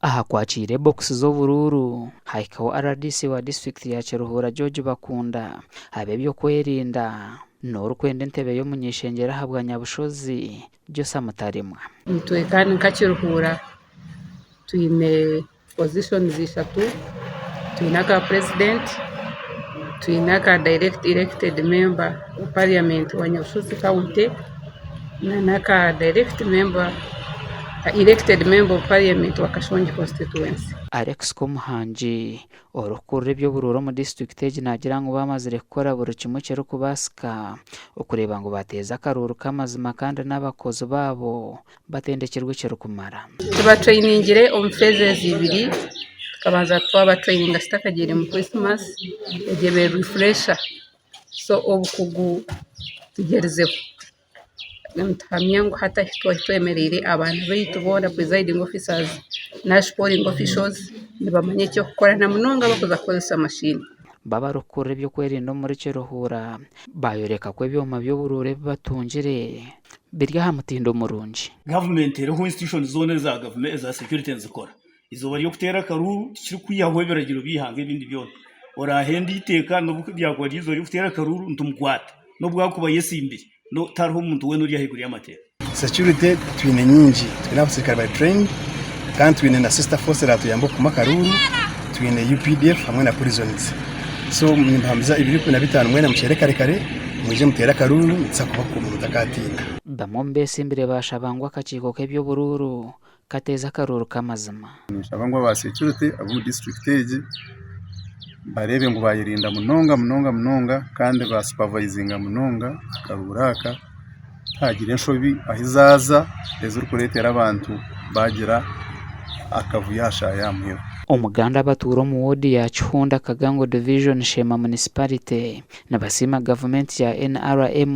Aha kwakiire bokisi z'oburuuru, hahikaho rdc wa disiturikiti ya Kiruhura George Bakunda, ab'ebyokwerinda, n'orikwenda entebe y'omuny'ishengyero aha bwa Nyabushozi, Josa Mutarimwa. Itwe kandi nka Kiruhura twine pozishonizi ishatu, twine aka purezidenti, twine aka dayirekiti irekitedi memba wa pariyamenti wa Nyabushozi kawunti. n'aka elected member of parliament wa Kashongi constituency. Alex Komuhangi orikukurira eby'oburuura omu disiturikiti egi naagira ngu baamazire kukora buri kimwe ekirikubaasika okureeba ngu baateeza akaruuru k'amazima kandi n'abakozi baabo batendekirwe ekirikumara. Tubatureiningire omu phases ibiri, tukabanza twabaturaininga kitakagiire mu Christmas, egyo ebe refresher. so obukugu tugyerizeho nituhamya ngu hati ahu twari twemereire abaana baitu boona purizaidingi ofisazi na sikoringi ofishozi nibamanya eky'okukora na munonga abarikuza kukoresa mashini. Bo abarikukurira eby'okwerinda omuri Kiruhura baayoreka ku ebyoma by'oburuura ebi batungire biri aha mutindo murungi. Gavumenti eriho institutions zoona eza security nizikora. eizooba ry'okuteera akaruuru tikirikwihaho ebiragiro by'eihanga ebindi byona, oraahende eiteeka n'obu ryakuba riri eizooba ry'okuteera akaruuru nitumukwata, n'obu akuba ayesimbire, tihariho muntu weena ori ahaiguru y'amateeka. Securite twine nyingi, twine abaserukare bari trained kandi twine na sister force eratuyamba okukuma akaruuru, twine updf hamwe na prisons. So nimbahambiza ebiro ikumi na bitaano mwena mukyere kare kare mwije muteere akaruuru nituza kubakuma mutakatiina. Bamwe omu besimbire baashaba ngu akakiiko k'eby'oburuuru kateeza akaruuru k'amazima. Ninshaba ngu aba securite ab'omu district egi bareebe ngu bayerinda munonga munonga munonga kandi ba supervisinga munonga akaruuru aka kuhagire enshobi ahu zaaza ezirikureetera abantu baagira akavuyo aha shaaha ya muheru. Omuganda abatuura omu woodi ya Kihunda Kagango Division Sheema Municipality nibasiima gavumenti ya nrm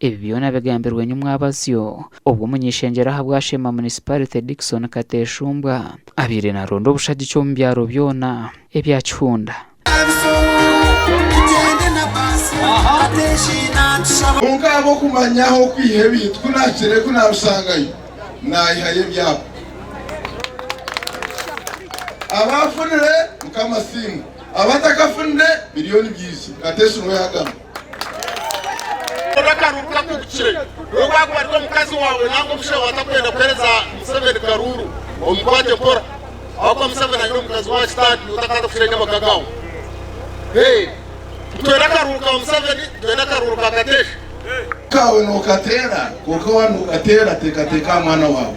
Ebi byona bigambirwe nyomwabazyo obwo omuny'ishengyero ahabwa Sheema Municipality Dickson Kateshumbwa abaire naronda obushagiki omu byaro byona ebya Kihunda. Kwonka ahabw'okumanya ahu okwiha ebintu ku naakire ku naabishangayo, naayihayo ebyapa. Abaafunire, Mukama asiimwe, abatakafunire biriyo nibiija, Kateshumbwa yaagamba. Karuuru kakubikire we wakwarika omukazi wawe nangwa omushaija wawe atakwenda kuhereza Museveni karuuru omukwate mpora ahabwokuba Museveni aine omukazi wa kitaagi otakaza kushenya amaka gaawe. Titwenda akaruuru ka Museveni nitwenda akaruuru ka Kateesha. Amaka gaawe nokateera kwonka waba nokateera teekateeka aha mwana waawe.